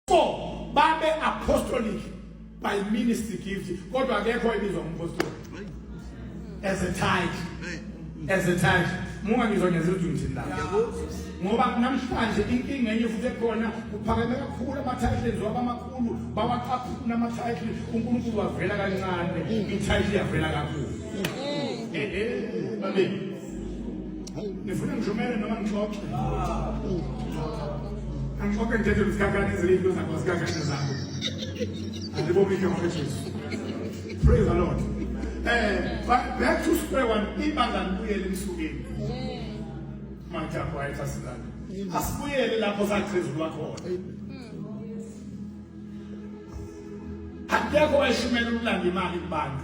Four, babe apostolic by ministry gift kodwa akekho ebizwa umpostoli as a tithe as a tithe munga ngizwa ngenza ukuthi ngithini la ngoba namhlanje inkinga enye futhi ekhona kuphakeme kakhulu ama-titles waba amakhulu bawaqaphuna ama-titles unkulunkulu wavela kancane i-title yavela kakhulu mm. eh, eh, eh, nifuna ngijumele noma ngixoxe angixoxe ngithethe luzikhankane ezilinto zakho zikhankane zakho andibomike ngona jesu praise the lord eh but back to square one ibanga libuyele emsukeni majabu ayetha silana asibuyele lapho sakhezulwa khona akekho wayishumela ukulanda imali kubantu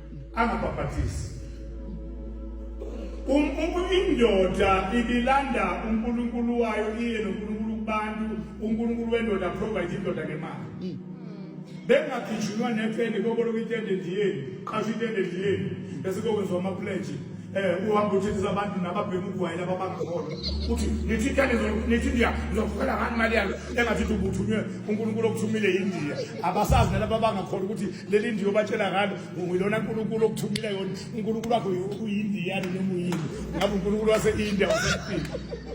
angabhabhathisi um, um, indoda ibilanda unkulunkulu wayo iye nonkulunkulu kubantu unkulunkulu wendoda provide indoda ngemali hmm. bengagijinwa nepeni koboloko itende ndiyeni qasho itende ndiyeni bese kokwenziwa amapledge um uhambe uthethisa abantu nababhema ugwayi laba bangakholwa uthi nithi itende nithi indiya ngizokufela ngani imali yalo engathi uthi ubuthunywe unkulunkulu okuthumile yindiya abasazi nalaba bangakholwa ukuthi leli ndiyo batshela ngalo ngilona nkulunkulu okuthumile yona unkulunkulu wakho uyindiyani noma uyini ngabe unkulunkulu wase-india wasephile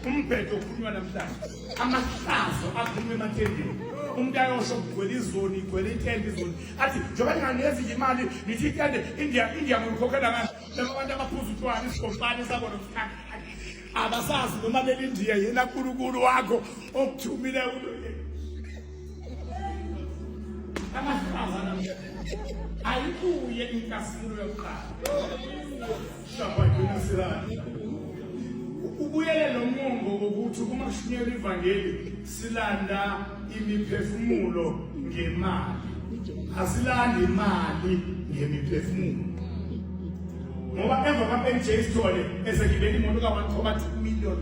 umbhedo okhulunywa namhlanje amahlazo akhuluma emathendeni umuntu ayosho kugcwele izoni igcwele itende izoni athi njengoba ndinganezi nje imali ngithi itende india india ngolikhokhela ngani laba bantu abaphuza utshwala isigombane sabona mkhakha abasazi noma belindiya yena nkulunkulu wakho okuthumile ayibuye inkazimulo yokuqala ubuyele lo mongo wokuthi uma kushunyelwa ivangeli silanda imiphefumulo ngemali asilandi imali ngemiphefumulo ngoba emva kaMJ Sithole esegibela imoto ka-1.2 million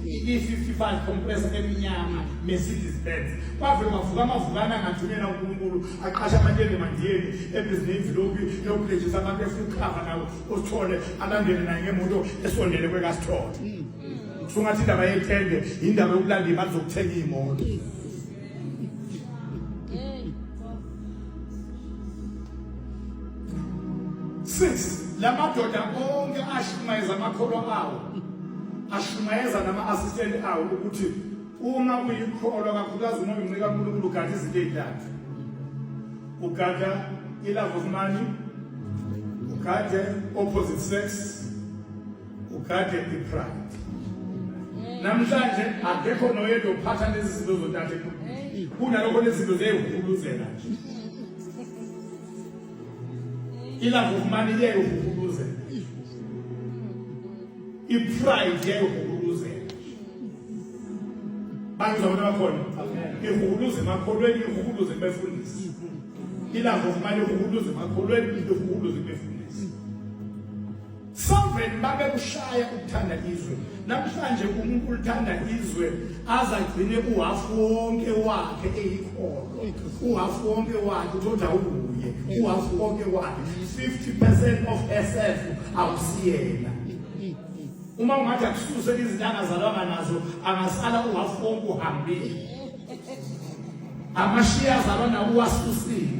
i-55 compressor eminyama Mercedes Benz kwavele mavuka amavukana angathumela uNkulunkulu aqasha abantu endemandiyeni ebhizinini imvilophi yokulejisa abantu efuna ukukhava nawo usithole alandele naye ngemoto esondele kwekasithole kusungathi indaba yethende indaba yokulanda imali zokuthenga iy'moto six la madoda onke ashumayeza amakholwa awo ashumayeza nama-assistant awo ukuthi uma kuyikholwa kakhulukazi uma uncika unkulunkulu ugada izinto ey'ntathu ugada i-love of money ugade opposite sex Ugade ipride. Namhlanje akekho noyedwa uphatha lezi zinto zontathu enkulu. Kunalokho lezi zinto ziyayihuluzela nje. Ilanga ukumane iyayihuluzela. Ipride iyayihuluzela. Bantu zabantu abakhona. Ihuluze emakholweni, ihuluze ebefundisi. Ilanga ukumane ihuluze emakholweni, ihuluze ebefundisi. Sovereign babekushaya ukuthanda izwe namhlanje umuntu ulithanda izwe aze agcine uhafu wonke wakhe eyikholo uhafu wonke wakhe uthonda ubuye uhafu wonke wakhe 50 percent of SF awusiyena uma ungathi akususe izintanga zalwanga nazo angasala uhafu wonke uhambile amashiya zalwa nawo uwasusile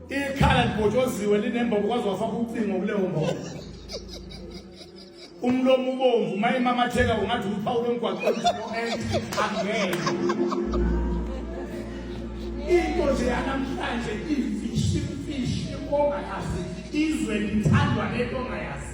ikhala libhotshoziwe linembobo kwaze wafaka ucingo kuleyo mbobo umlomo ubomvu uma imamatheka ungathi uphawu lomgwaqo angeke into nje yanamhlanje imfishi imfishi ongayazi izwe lithandwa lento ongayazi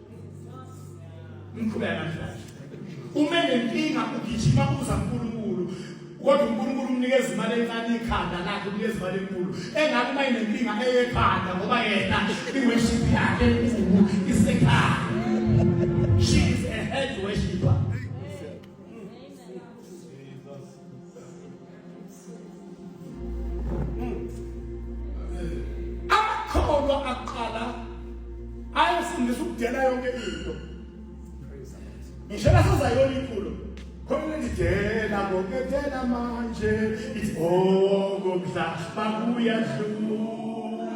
Umkhuba namhlanje. Uma nenkinga ugijima kuza uNkulunkulu. Kodwa uNkulunkulu umnikeza imali encane ikhanda lakhe umnikeza imali enkulu. Engabe uma inenkinga eyekhanda ngoba yena iworship yakhe enkulu isekhaya. She is a head worshiper. amakholwa aqala ayefundisa ukudela yonke into ngisho nasezayona inkulu khona lidela ngokethela manje ithi oh ngomdla bakuya dlula